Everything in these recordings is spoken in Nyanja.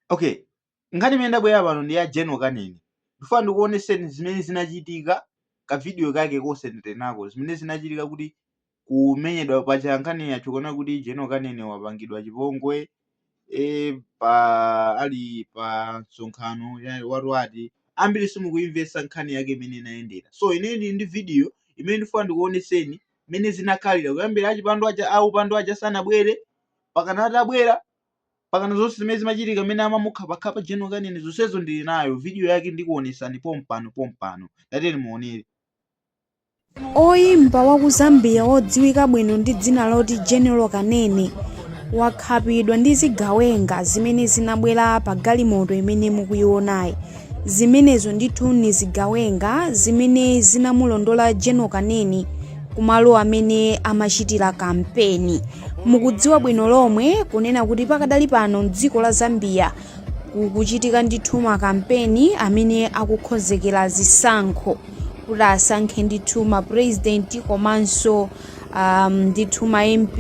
okay nkhani imene ndabwera pano ndi ya general kanene ndifuna ndikuoneseni zimene zinachitika kavidiyo kake kosendenako zimene zinachitika pa kumenyedwa pacha nkhani yathu kuona kuti general kanene wapangidwa chipongwe e, pa ali pa msonkhano ya- watu wati ambiri simukuimvetsa nkhani yake imene inayendera so ine ndili ndi video imene ndifuna ndikuoneseni mmene zinakhalira kuyambira achipando aja aupandu aja sanabwere pakana atabwera pakana zonse zimene zimachitika mmene amamukhapakhapa general kanene zonsezo ndili nayo video yake ndikuonetsani pompano pompano tatiyeni muonere Oyimba wa ku Zambia wodziwika bwino ndi dzina loti General Kanene wakhapidwa ndi zigawenga zimene zinabwera pa galimoto imene mukuionayi. Zimenezo ndithu ni zigawenga zimene zinamulondola General Kanene kumalo amene amachitira kampeni. Mukudziwa bwino lomwe kunena kuti pakadali pano m'dziko la Zambia kukuchitika ndithu makampeni amene akukonzekera zisankho kuti asankhe ndithu ma president komanso um, ndithu ma MP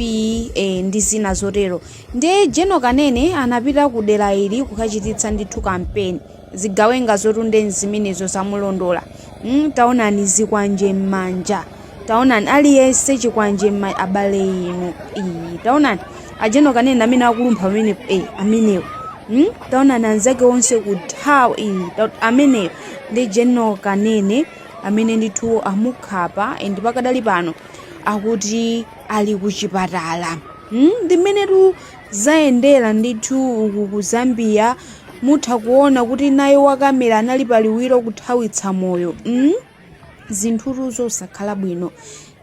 eh, ndi zina zotero. Nde General Kanene anapita ku dera ili kukachititsa ndithu kampeni. Zigawengazotu nde nzimenezo zamulondola. Mm, taonani zikwanje m'manja. Taonani aliyense chikwanje m'ma abale inu. Iyi, taonani a General Kanene amene akulumpha amene eh amenewo. Mm, taonani anzake onse kuthawa iyi. ta- Ameneyo ndi General Kanene amene ndithu amukhapa and pakadali pano akuti ali kuchipatala mm? ndi mmenetu zayendera ndithu uku ku zambia mutha kuona kuti naye wakamera anali paliwiro kuthawitsa moyo mm? zinthutu zosakhala bwino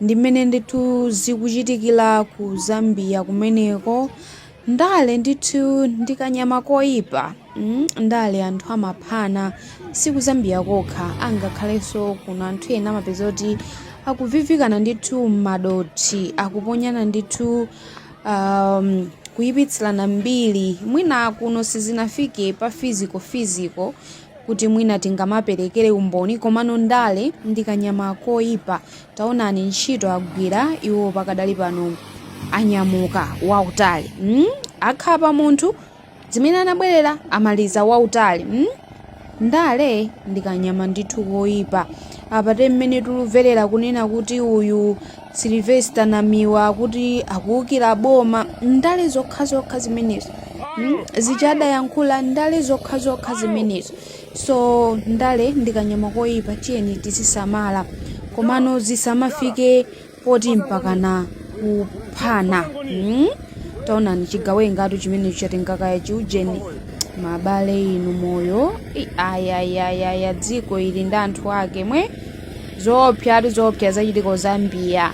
ndi mmene ndithu zikuchitikira ku zambia kumeneko Ndale ndithu ndi kanyama koipa mm, ndale anthu amaphana si ku Zambia kokha angakhalenso kuno anthu ena amapeza kuti akuvivikana ndithu m'madothi akuponyana ndithu um, kuyipitsirana mbiri mwina kuno sizinafike pa physical physical kuti mwina tingamaperekere umboni komano ndale ndi kanyama koipa taonani ntchito agwira iwo pakadali pano anyamuka wautali mm? akhapa munthu zimene anabwerera amaliza wautali mm? ndale ndikanyama ndithu koyipa apa ndi mmene tikumverera kunena kuti uyu silvester namiwa kuti akuwukira boma ndale zokhazokha zimenezo mm? zimene adayankhula ndale zokhazokha zimenezo so ndale ndi kanyama koyipa tiyeni tizisamala komano zisamafike poti mpakana kuphana hmm? taonani chigawengatu chimene chatenga kaya chiujeni mabale inu moyo I- ayayayaya dziko ili ndi anthu ake mwe zoopsatu zoopsa zachitika zambia